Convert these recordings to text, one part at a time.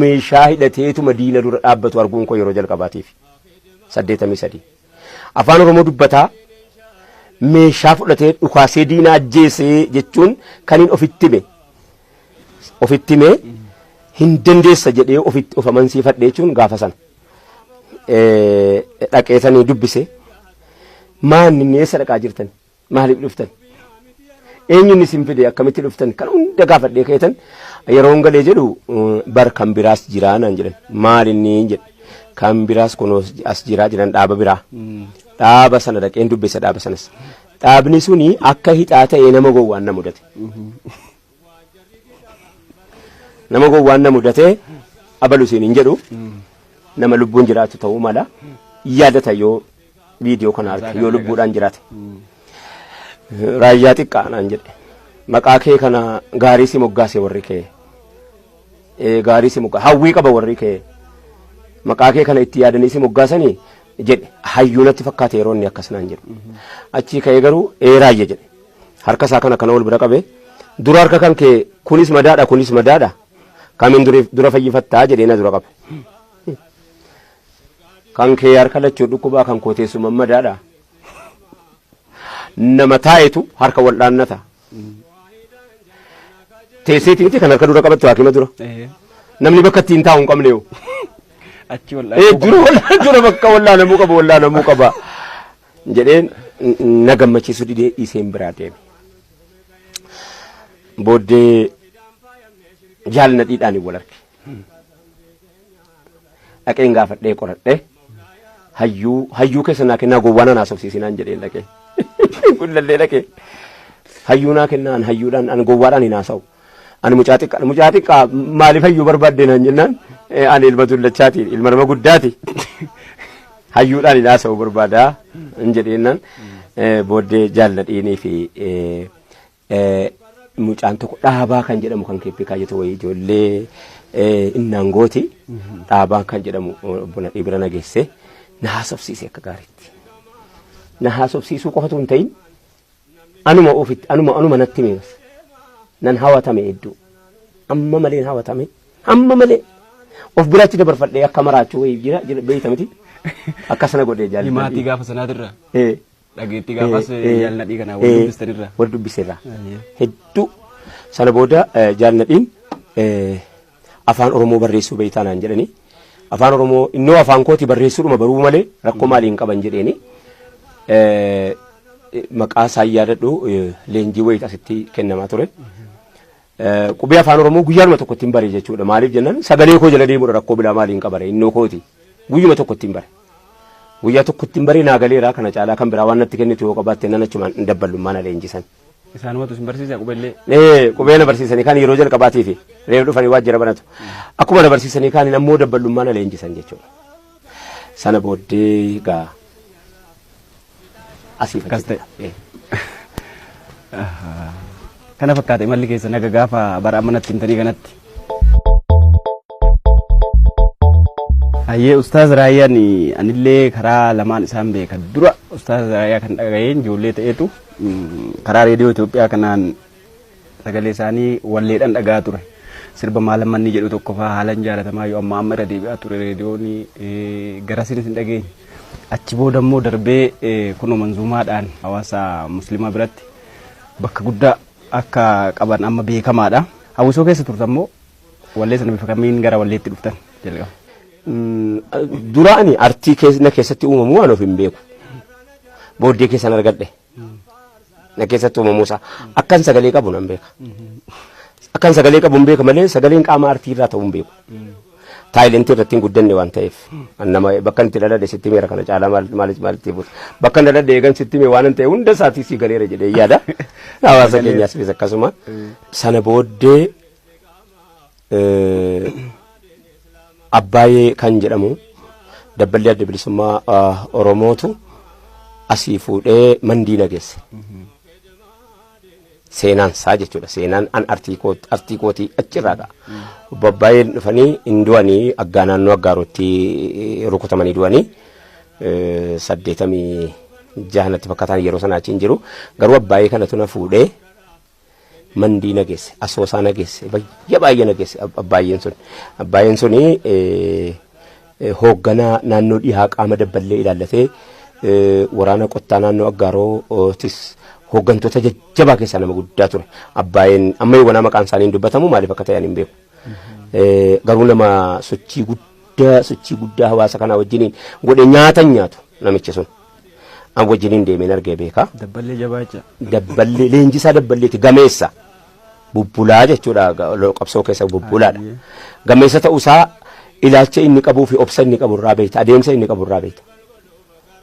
meeshaa hidhateetuma diina dura dhaabbatu arguun koo yeroo jalqabaatiif. 83. Afaan Oromoo dubbataa meeshaa fudhatee dhukaasee diina ajjeesee jechuun kan hin ofitti hime. Ofitti hime hin dandeessa jedhee ofitti of amansiifadhe jechuun gaafa sana. Eh, Dhaqeetanii dubbise. Maanni inni eessa dhaqaa jirtan? Maaliif dhuftan? Eenyuun isin fide akkamitti dhuftan? Kan hunda gaafadhee keetan yeroon galee jedhu bar kan biraas jiraa naan jedhan. Maal inni jedhe? Kan biraas kun as jiraa jedhan dhaaba biraa. Dhaaba sana dhaqeen dubbisa dhaaba sanas. Dhaabni suni akka hixaa ta'ee nama gowwaan na mudate. Nama gowwaan na mudatee abalu siin hin jedhu nama lubbuun jiraatu ta'uu mala yaadata yoo viidiyoo kana arge yoo lubbuudhaan jiraate. Raayyaa xiqqaa naan jedhe maqaa kee kana gaarii si moggaase warri kee Eh, gaarii si moggaase hawwii qaba warri kee maqaa kee kana itti yaadanii si moggaasanii jedhe hayyuu natti fakkaate yeroo inni akkas naan jedhu achii ka'ee garuu ee raayya jedhe harka isaa kana kana wal bira qabe dura harka kan kee kunis madaadha kunis madaadha kamiin dura, dura fayyifattaa jedhee na dura qabe kan kee harka lachuu dhukkubaa kan koo teessuma madaadha nama taa'etu harka wal dhaannata teesseeti miti kan harka dura qabattu haakima dura Eh, namni bakka ittiin taa'u hin qabne yoo Achi wal Eh, dura wallaa- dura bakka wallaanamuu qaba wallaanamuu qaba jedhee na gammachiisu didee dhiiseen biraa deeme. Booddee jaal nadhiidhaan wal arge. Dhaqeen gaafadhee qoradhee hayyuu hayyuu keessa naa kennaa gowwaa nan haasofsiisinaan jedheen dhaqee. Gullallee dhaqee hayyuu naa kennaan hayyuudhaan an gowwaadhaan hin haasa'u. Ani mucaa xiqqaadha. Mucaa xiqqaa maaliif hayyuu barbaadde naan jennaan ani ilma dullachaati ilma nama guddaati. Hayyuudhaan hin haasa'u barbaada hin jedheennan booddee jaalladhiinii fi mucaan tokko dhaabaa kan jedhamu kan keeppii kaayyotu wayii ijoollee innaan gooti dhaabaa kan jedhamu obbo Nadhii bira na geesse na haasofsiise akka gaariitti. Na haasofsiisuu qofatu hin ta'in anuma ofitti anuma anuma natti hime bas nan hawatame hedduu amma malee hawatame amma malee of biraatti dabarfadhee akka maraachuu wayii jira jira beeyta miti akkas na godhee jaalladhi. Himaatii gaafa sanaatirra Eh, dhageettii gaafas eh, eh, jaalladhii kana eh, wal dubbistanirra. wal dubbiseerra Ayyee. hedduu sana booda eh, jaalladhiin eh, Afaan Oromoo barreessuu beektaa naan jedhanii Afaan Oromoo innoo afaan kooti barreessuudhuma baruu malee rakkoo maalii hin qaban jedheeni Eh, maqaa isaa yaadadhu eh, leenjii wayiit asitti kennamaa ture. Eh, Qubee afaan Oromoo guyyaanuma tokko ittiin bare jechuudha. Maaliif jennaan sagalee koo jala deemuudha rakkoo biraa maaliin qabare innoo kooti guyyuma tokko ittiin bare. Guyyaa tokko ittiin bare naa galeeraa kana caalaa kan biraa waan natti kennitu yoo qabaatte nan achumaan hin dabballu maana leenjisan. Isaanumatu isin barsiisa qubellee. Ee, qubee na barsiisanii kaan yeroo jalqabaatiif reef dhufanii waajjira banatu. Akkuma na barsiisanii kaan ammoo dabballummaa na leenjisan jechuudha. Sana booddee gaa asiif Akkas achi ta'e. ta'e. Kana fakkaate imalli keessa naga gaafa bara amma natti himtanii kanatti. Hayyee Ustaaz Raayyaan anillee karaa lamaan isaan beeka. Dura Ustaaz Raayyaa kan dhaga'een ijoollee ta'eetu Karaa reediyoo Itoophiyaa kanaan sagalee isaanii walleedhaan dhaga'aa ture. Sirba maalan manni jedhu tokko fa'aa haalan jaalatamaa yoo amma amma irra deebi'aa ture reediyoon garasiinis hin dhageenye. Achi booda immoo darbee kunoo manzuumaadhaan hawaasa musliimaa biratti bakka guddaa akka qaban amma beekamaadha. Hawwisoo keessa turtan moo Walleessa nama kamiin gara walleetti dhuftan jalqaba. Duraani artii na keessatti uumamu waan of hin beeku. Booddee keessan argadhe. Na keessatti uumamu isaa akkan sagalee qabu nan beeka. Akkan sagalee qabu hin beeka malee sagaleen qaama artii irraa ta'uu hin beeku. Taayilentii irratti hin guddanne waan ta'eef nama bakka itti dhaladhe sitti meera kana caalaa maal maal maal itti buuta. Bakka dhaladhe eegan sitti mee waan ta'e hunda isaatii si galeera jedhee yaada. Hawaasa keenyaas akkasuma sana booddee Abbaayee kan jedhamu dabballee adda bilisummaa Oromootu asii fuudhee mandii nageesse. Seenaan isaa jechuudha. Seenaan an artii kootii achirraa ka'a. Babbaayeen dhufanii hin du'anii aggaa naannoo aggaaruutti rukutamanii du'anii saddeetamii jahanatti fakkataan yeroo sana achi hin jiru. Garuu abbaayee kanatu na fuudhee mandii na geesse asoosaa na geesse baay'ee baay'ee na geesse ab- abbaayeen sun abbaayeen suni eh, eh, hoogganaa naannoo dhihaa qaama dabballee ilaallatee eh, waraana qottaa naannoo aggaarootis hooggantoota jajjabaa keessaa nama guddaa ture abbaayeen amma yoo wanaa maqaan isaanii hin dubbatamu maaliif akka ta'an hin beeku Eh, garuu nama sochii guddaa sochii guddaa hawaasa kanaa wajjiniin godhe nyaata hin nyaatu namichi sun An wajjiniin deemeen argee beeka. Dabballee jabaacha. Dabballee leenjisaa dabballeeti gameessa. Bubbulaa jechuudha ga- lo- qabsoo keessa bubbulaadha. Ayyee. Gameessa ta'uusaa ilaalcha inni qabuu fi obsa inni qabu irraa beekta adeemsa inni qabu irraa beekta.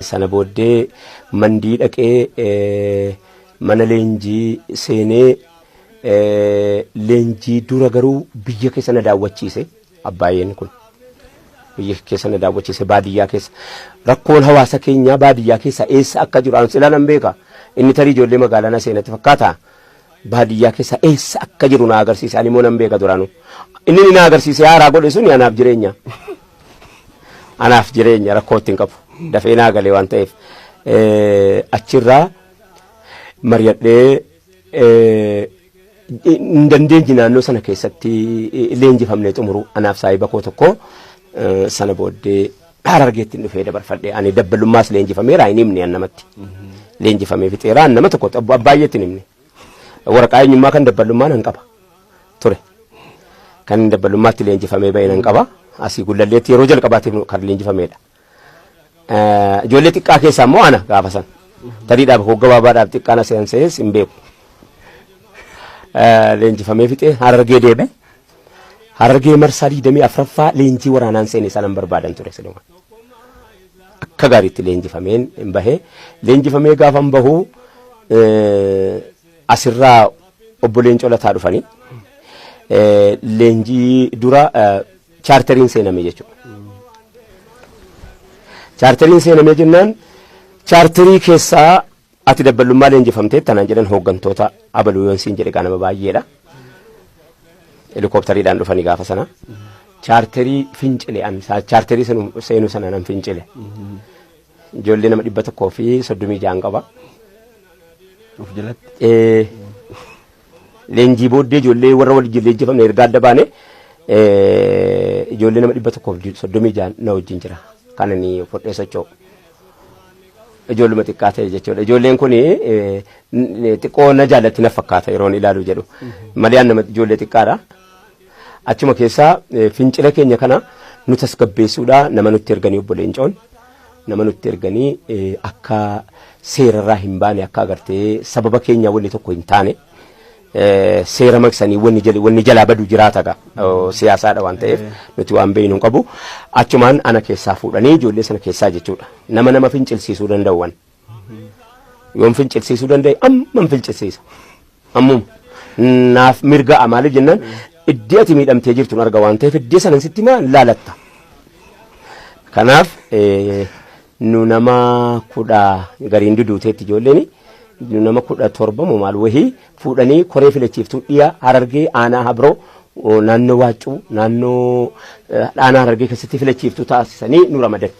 Sana booddee mandii dhaqee eh, mana leenjii seenee eh, leenjii dura garuu biyya keessa na daawwachiise. Abbaayeen kun biyya keessa na daawwachiise baadiyyaa keessa rakkoon hawaasa keenyaa baadiyyaa keessa eessa akka jiru an silaa nan beeka inni tarii ijoollee magaalaa na seenatti fakkaata baadiyyaa keessa eessa akka jiru na agarsiise ani immoo nan beeka duraanu inni inni na agarsiise haaraa godhe suni anaaf jireenya anaaf jireenya rakkoo ittiin qabu dafee naa galee waan ta'eef eh, achirraa mari'adhee eh, hin dandeenye naannoo sana keessatti eh, leenjifamnee xumuru anaaf saahiba koo tokko eh, sana booddee harargeetti hin dhufee dabarfadhe ani dabbalummaas leenjifameera hin himne an namatti leenjifamee fixeera an nama tokko abba- baay'eetti hin himne waraqaa eenyummaa kan dabbalummaa nan qaba ture kan dabbalummaatti leenjifamee ba'e nan qaba asii gullalleetti yeroo jalqabaatiif kan leenjifameedha Eh, Ijoollee xiqqaa keessaa immoo ana gaafa san. Tariidhaaf hogga baabaadhaaf xiqqaan as hin se'es hin beeku. Eh, Leenjifamee fixee harargee deeme. Harargee marsaa digdamii afraffaa leenjii waraanaan seene sanan barbaadan ture silumaan. akka gaariitti leenjifameen hin bahe leenjifamee gaafa hin bahu eh, asirraa obbo Leencoo Lataa dhufanii eh, leenjii dura eh, chaarteriin seename jechuudha. Chaarteriin seename jennaan chaarterii keessaa ati dabballummaa leenjifamtee tanaan jedhan hooggantoota abaluu yoon siin jedhe qaanama baay'eedha. Helikooftariidhaan dhufanii gaafa sana chaarterii fincile an saa- chaarterii senu- seenuu sana nan fincile. Ijoollee nama dhibba tokkoo fi soddomii ja'an qaba. Of jalatti. Eh, Leenjii booddee ijoollee warra wajjin leenjifamne erga adda baane ijoollee nama dhibba tokkoof soddomii jaan na wajjin jira. Kan ani fudhee socho'u. Ijoolluma xiqqaa ta'e jechuudha. Ijoolleen kun xiqqoo na jaallatti na fakkaata yeroon ilaalu jedhu. Maliyaan nama ijoollee xiqqaadha. Achuma keessaa fincila keenya kana nu tasgabbeessuudha nama nutti erganii obbo Leencoon nama nutti erganii akka seerarraa hin baane akka agartee sababa keenya wanni tokko hin taane seera maqsanii wanni jalaa badu jiraata gaa siyaasaadha waan ta'eef nuti waan beeknu hin qabu achumaan ana keessaa fuudhanii ijoollee sana keessaa jechuudha nama nama fincilsiisuu danda'uwan. Yoon fincilsiisuu danda'e amman fincilsiisa. Ammuma. Naaf mirga'a maaliif jennaan iddii ati miidhamtee jirtu arga waan ta'eef iddii sanan sitti maa laalatta. Kanaaf eh, nu nama kudha gariin duduuteetti ijoolleen nu nama kudha torba moo maal wahii fuudhanii koree filachiiftuu dhiyaa harargee aanaa habroo oh, naannoo waaccuu naannoo eh, aanaa harargee keessatti filachiiftuu taasisanii nu ramadan.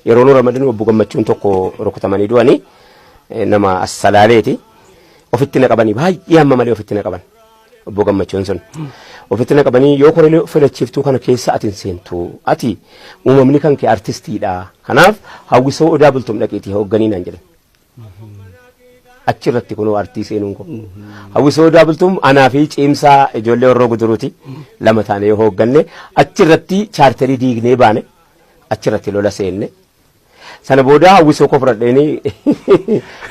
Yeroo nu ramadinu obbo Gammachuun tokko rukutamanii du'anii nama assalaaleeti. Ofitti na qabanii baay'ee amma malee ofitti na qaban. Obbo Gammachuun sun ofitti na qabanii yoo koree filachiiftuu kana keessa ati hin seentu. Ati uumamni kan kee artistiidha. Kanaaf hawwisoo odaa bultum dhaqiitii hoogganiin naan jedhan. Achi irratti kunoo artii seenuun koo. Hawwisoo Odaa Bultum anaa fi ciimsaa ijoollee Horroo Guduruuti lama taanee yoo hoogganne achi irratti chaarterii diignee baane achi irratti lola seenne. Sana booda hawwisoo koo fudhadheeni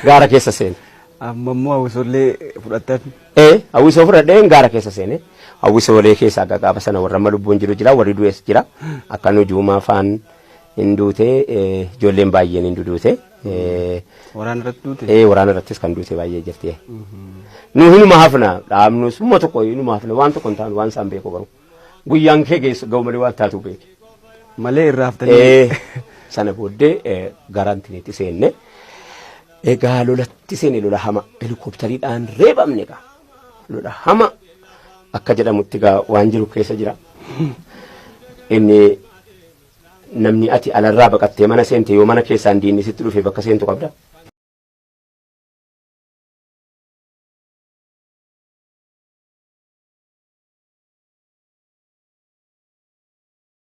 gaara keessa seene. Amma immoo hawwisoollee fudhattan. Ee hawwisoo fudhadheen gaara keessa seene. Hawwisoolee keessa akka gaafa sana warra amma lubbuun jiru jira warri du'es jira. Akka nujuumaa faan hin duute eh, ijoolleen baay'een hin duduute. Eh, Waraana irratti duute. ee waraana irrattis kan duute baay'ee jirti. eh. Nu hinuma hafna dhaabnus humna tokko hinuma hafna waan tokko hin taanu waan isaan beeku garuu guyyaan kee geessu ga'u malee waan taatu beeki. Malee irraa haftanii. Eh, Sana booddee eh, garaantinitti seenne egaa lolatti seene lola hama helikoptariidhaan reebamne egaa lola hama akka jedhamutti egaa waan jiru keessa jira. Inni Namni ati alarraa baqattee mana seente yoo mana keessaan diinni sitti dhufe bakka seentu qabda?